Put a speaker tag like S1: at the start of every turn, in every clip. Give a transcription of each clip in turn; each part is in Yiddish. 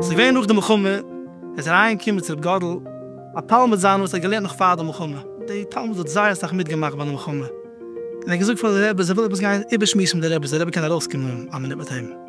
S1: ס'איז געווען נאך די מלחמה, ער איז אריין געקומען צו ר' גאדל, א תלמיד זיינער וואס האט געלערנט נאך פאר די מלחמה, די תלמיד האט זייער אסאך מיט געמאכט ביי די מלחמה, און ער האט געזאגט פאר די רבי אז ער וויל עפעס גיין איבער שמועסן מיט די רבי, אז די רבי קען ארויס קומען א מינוט מיט אים.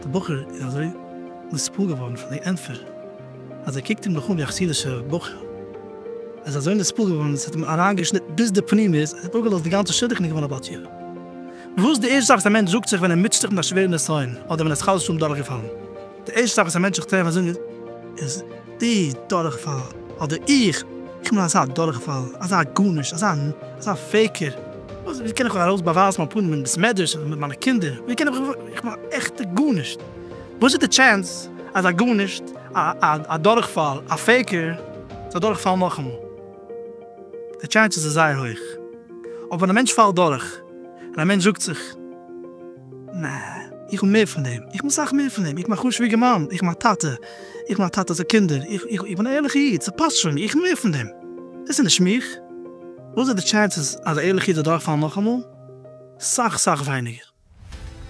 S1: דער בחור איז אזוי נספּעל געווארן פון די ענטפער, אז ער קוקט אים נאך אן ווי א חסידישער בחור. ער איז אזוי נספּעל געווארן, עס האט אים אריינגעשניטן ביז די פּנימיות, ער האט אפּגעלאזט די גאנצע שידוך און איז געווארן א בת יענה. וואס איז די ערשטע זאך וואס א מענטש זאגט זיך ווען ער מוטשעט זיך מיט א שווערע נסיון, אדער ווען ער איז חס ושלום דורכגעפאלן? די ערשטע זאך וואס א מענטש זיך טרעפט אזוי איז די דורכפאל, אדער איך קום פון אזא דורכפאל, אזא גארנישט, אזא אזא פעיקער, וואס ווי קען איך ארויס באווייזן מיין פנים אין בית מדרש אדער מיט מיינע קינדער, ווי קען איך איך בין א עכטע גארנישט, וואס איז די טשענס אז א גארנישט, א א דורכפאל, א פעיקער, זאל דורכפאלן נאכאמאל? די טשענס איז זייער הויך, אבער ווען א מענטש פאלט דורך, און א מענטש זאגט זיך. נע, איך בין מער פון דעם, איך בין סאך מער פון דעם, איך בין א חשוב'יגער מאן, איך בין א טאטע, איך בין א טאטע צו קינדער, איך בין א ערליכע איד, ס'פאסט שוין, איך בין מער פון דעם, דאס איז נישט מיך. וואס איז די טשענסעס אז א ערליכע איד וועט דורכפאלן נאכאמאל? סאך סאך ווייניגער.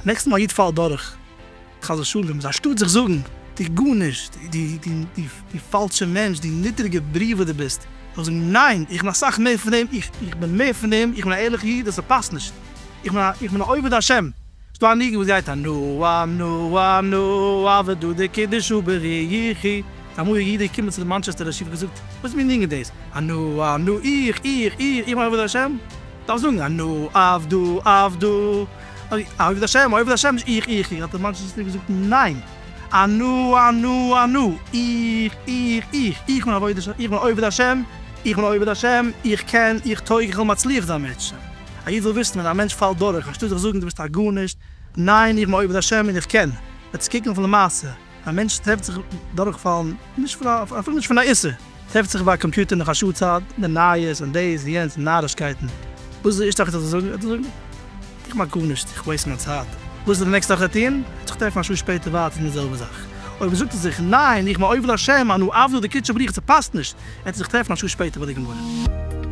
S1: נעקסטע מאל א איד פאלט דורך, חס ושלום, איז אנשטאט זיך זאגן, דו גארנישט, דו פאלשער מענטש, דו נידריגער בריאה וואס דו ביסט, זאל איך זאגן, ניין, איך בין אסאך מער פון דעם, איך בין מער פון דעם, איך בין א ערליכע איד און ס'פאסט נישט. איך בין א איך בין א עובד השם. ס'דא א ניגון וואס גייט א נו א נו א נו א ודו די קידוש הוא בריחי א מאל א איד איז געקומען צו די מאנטשעסטער רשי פון געזאגט וואס מין ניגון דאס א נו א נו איך איך איך איך בין עובד השם דארף זאגן א נו עבדו עבדו א עובד השם א עובד השם נישט איך איך איך האט די מאנטשעסטער געזאגט ניין א נו א נו א נו איך איך איך איך בין עובד השם איך בין עובד השם איך קען איך טויג איך וועל מצליח זיין בעזהשי ת. א איד זאל וויסן ווען א מענטש פאלט דורך אנשטאט זיך זאגן דו ביסט א גארנישט, ניין איך בין עובד השם און איך קען, וועט עס קוקן אויף למעשה, א מענטש טרעפט זיך דורכפאלן נישט פון א, אפילו נישט פון א איסור, טרעפט זיך ביי א קאמפיוטער נאך א שעה צייט, די נייעס און דאס און יענץ און נארישקייטן, וואס איז די ערשטע זאך וואס ער זאל זאגן? ער וועט זאגן, איך מאך גארנישט, איך וועיסט מיין צייט, וואס איז די נעקסטע זאך ער וועט טון? ער וועט זיך טרעפן א שעה שפעטער ווייטער אין די זעלבע זאך, אויב זאגט ער זיך, ניין איך בין עובד השם אנו עבדא דקריטשא בריך, ס'פאסט נישט, ער וועט זיך טרעפן א שעה שפעטער ביי די גמרא.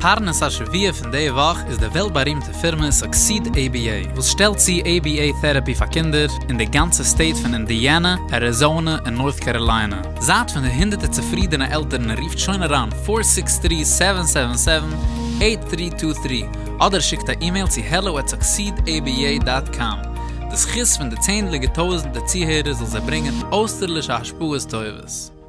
S1: פרנס
S2: השבוע פון די וואך איז די וועלט בארימטע פירמע סוקסיד עי בי עי וואס שטעלט צו עי בי עי טעראפי פאר קינדער אין די גאנצע סטעיט פון אינדיאנע, אריזאנע און נארט קאראליינע. זייט פון די הונדערטער צופרידענע עלטערן רופט שוין אריין פֿיר זיקס טרי סעווען סעווען סעווען עיט טרי טו טרי אדער שיקט א אימעיל צו העלא עט סוקסיד עי בי עי דאט קאם. די זכות פון די צענדליגע טויזענטער צוהערער זאל זיי ברענגען אויסטערלישע השפעות טובות.